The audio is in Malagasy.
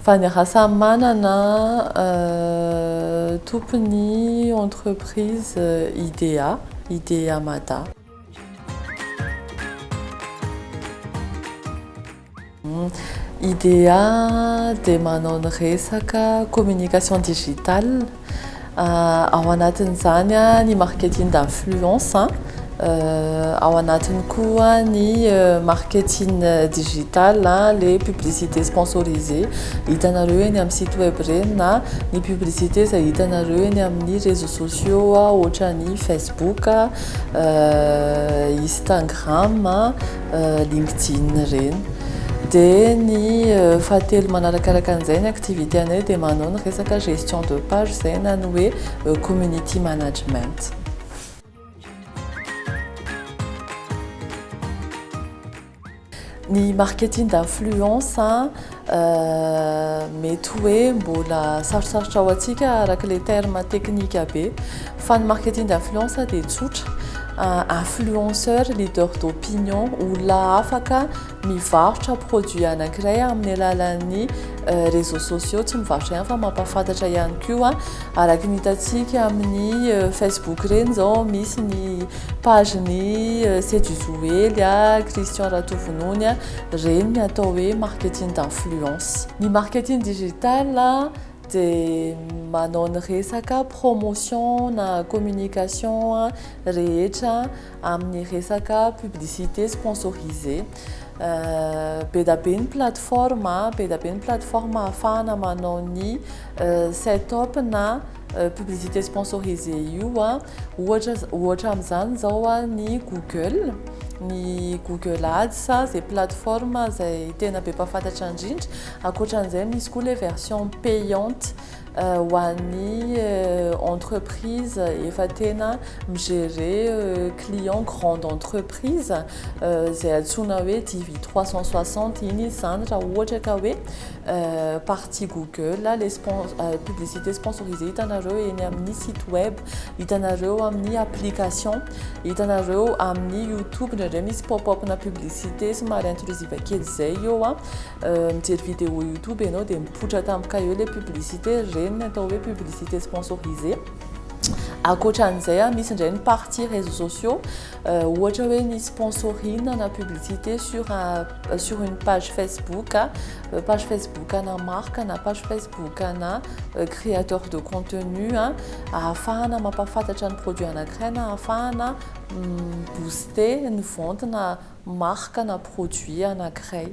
Fa ny raha samy manana tompony entreprise IDEA, IDEA Mada. IDEA dia manao ny resaka communication digitale, ao anatin'izany ny marketing d'influence, ao anatiny koa ny marketing digital, ilay publicité sponsorisée hitanareo eny amin'ny site web ireny na ny publicité izay hitanareo eny amin'ny réseaux sociaux ohatra ny facebook, instagram. LinkedIn ireny. Dia ny fahatelo manarakaraka an'izay ny activité anay dia manao ny resaka gestion de page izay na ny hoe community management. Ny marketing d'influence. Mety hoe mbola sarosarotra ho antsika araka ilay terme teknika be fa ny marketing d'influence dia tsotra influenceur leader d'opinion olona afaka mivarotra produit anankiray amin'ny alalan'ny réseaux sociaux tsy mivarotra ihany fa mampahafantatra ihany koa araka ny hitantsika amin'ny Facebook ireny izao misy ny page ny Seduzoely Christian Ratovononia Ireny ny atao hoe marketing d'influence. Ny marketing digital dia manao ny resaka promotion na communication rehetra amin'ny resaka publicité sponsorisé. Be dia be ny plateforme, be dia be ny plateforme ahafahana manao ny set up na publicité sponsorisé io. Ohatra ohatra amin'izany izao ny Google, ny Google Ads izay plateforme izay tena be mpahafantatra indrindra. Ankoatra an'izay misy koa ilay version payante ho an'ny entreprise efa tena mi-gérer client grande entreprise. prise izay antsoina hoe TV 360 iny izy izany raha ohatra ka hoe partie google le publicité sponsorisé hitanareo eny amin'ny site web hitanareo amin'ny application hitanareo amin'ny youtube ndraindray misy pop up na publicité somary intrusive kely izay eo a mijery vidéo youtube ianao dia mipoitra tampoka eo le publicité reny ny atao hoe publicité sponsorisé akoatra an'izay a misy indray ny partie réseaux sociaux Ohatra hoe ny sponsorina na publicité sur un sur une page Facebook, page Facebook ana marque na page Facebook ana créateur de contenu ahafahana mampahafantatra ny produit anankiray na ahafahana mi-booster ny vente na marque na produit anankiray.